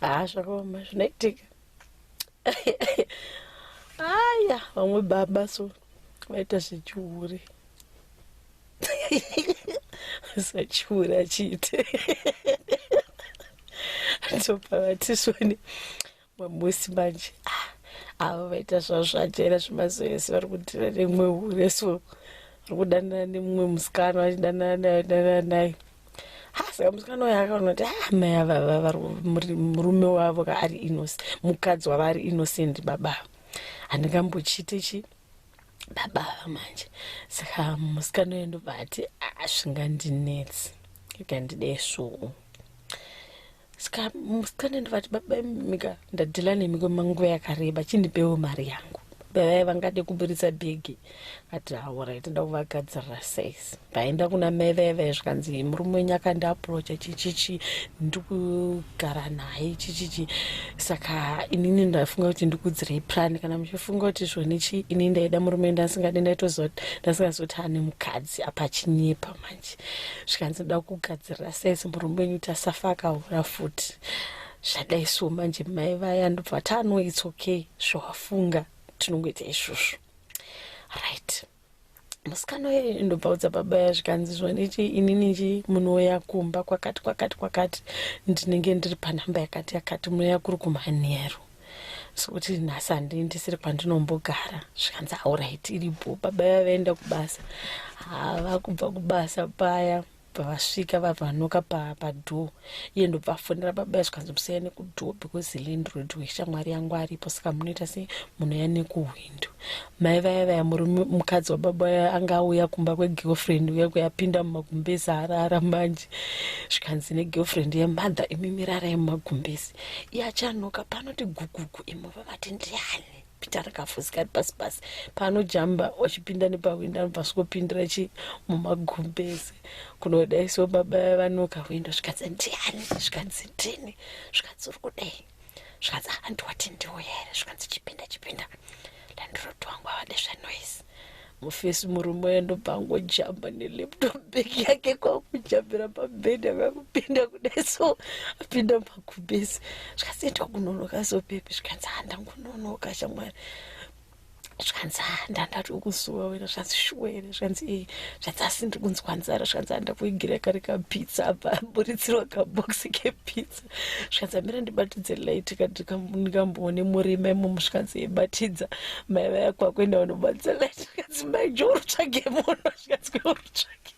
haa zvakaoma zvinoitika aya vamwe baba so vaita zvechihure sachihure achiite ndopavatisoni mamusi manje ah, avo vaita zvavo zvajera zvemazoyesi vari kudira nemumwe hure so vari kudanana nemumwe musikana vachidanana nayo danana nayo saka musikana uyo akaona kuti ah, mai avava murume wavo ka ari innoc mukadzi wavo ari innocent baba handingambochiite chi baba ava manje saka musikana uyo ndobva ati ah, zvingandinetsi ikandide svuu ska musikana ndivati baba mika ndadhila nemi kwemanguva yakareba chindipewo mari yangu bavaya vangade kuburitsa bhegi ati haura itoda kuvagadzirira sais vaenda kuna mai vaya vaya zvikanzi murume wenyu akandiaprocha chichichi ndikugara naye chichichi saka inini ndafunga kuti ndikudzirei prani kana muchifunga kuti zvonichi inini ndaida murume ndasingadi ndaitoziva kuti ndasingazoti ane mukadzi apa chinyepa manje zvikanzi ndoda kugadzirira saisi murume wenyu kuti asafa akahura futi zvadai so manje mai vaya ndobva tano its okay zvawafunga tinongoita izvozvo right musikana uye ndobva udza baba ya zvikanzi zvandichi inini chi munouya kumba kwakati kwakati kwakati ndinenge ndiri panhamba yakati yakati munoya kuri kumhanheru sokuti nhasi handii ndisiri kwandinombogara zvikanzi auright iripo baba vaya vaenda kubasa hava kubva kubasa paya pavasvika vavanoka padhoo iye ndobvafonera baba zvikanzi musiyane kudhoo because land road weshamwari yangu aripo saka munoita sei munoya nekuuya Bindu. Mai vaya vaya murume mukadzi wababa vaya anga auya kumba kwegirlfriend uya kuyapinda mumagumbezi arara manje zvikanzi negirlfriend yemother imi mirarai mumagumbezi iye achanoka panoti gugugu imo vavati ndiani pita rakafusika ari pasi pasi paanojamba wachipinda nepahwindo anobva svokopindira chi mumagumbezi kunodaiso baba vanoka hwindo zvikanzi ndiani zvikanzi ndini zvikanzi uri kudei zvikanzi ah, hanti wati ndiwo here zvikanzi chipinda chipinda landrod wangu avade zvenoise mufesi murume uya ndobva angojamba nelaptop bag yake kwakujambira pabhedhi akakupinda kudai so apinda makubesi zvikanzi enda kunonoka so pepi zvikanzi handangunonoka shamwari zvikanzi ha ah, ndandati ukuzuva wena zvikanzi shuwa here zvikanzi ee eh, zvikanzi asi ndiri kunzwa nzara zvikanzi andakuigira kari kapizza apa buritsirwa kaboxi kepizza zvikanzi amira ndibatidze light ndikamboone murima imomo zvikanzi yebatidza eh, mai vaya kwakuenda vanobatidza light zvikanzi mai jo urutsvage muno zvikanzi kwe urutsvage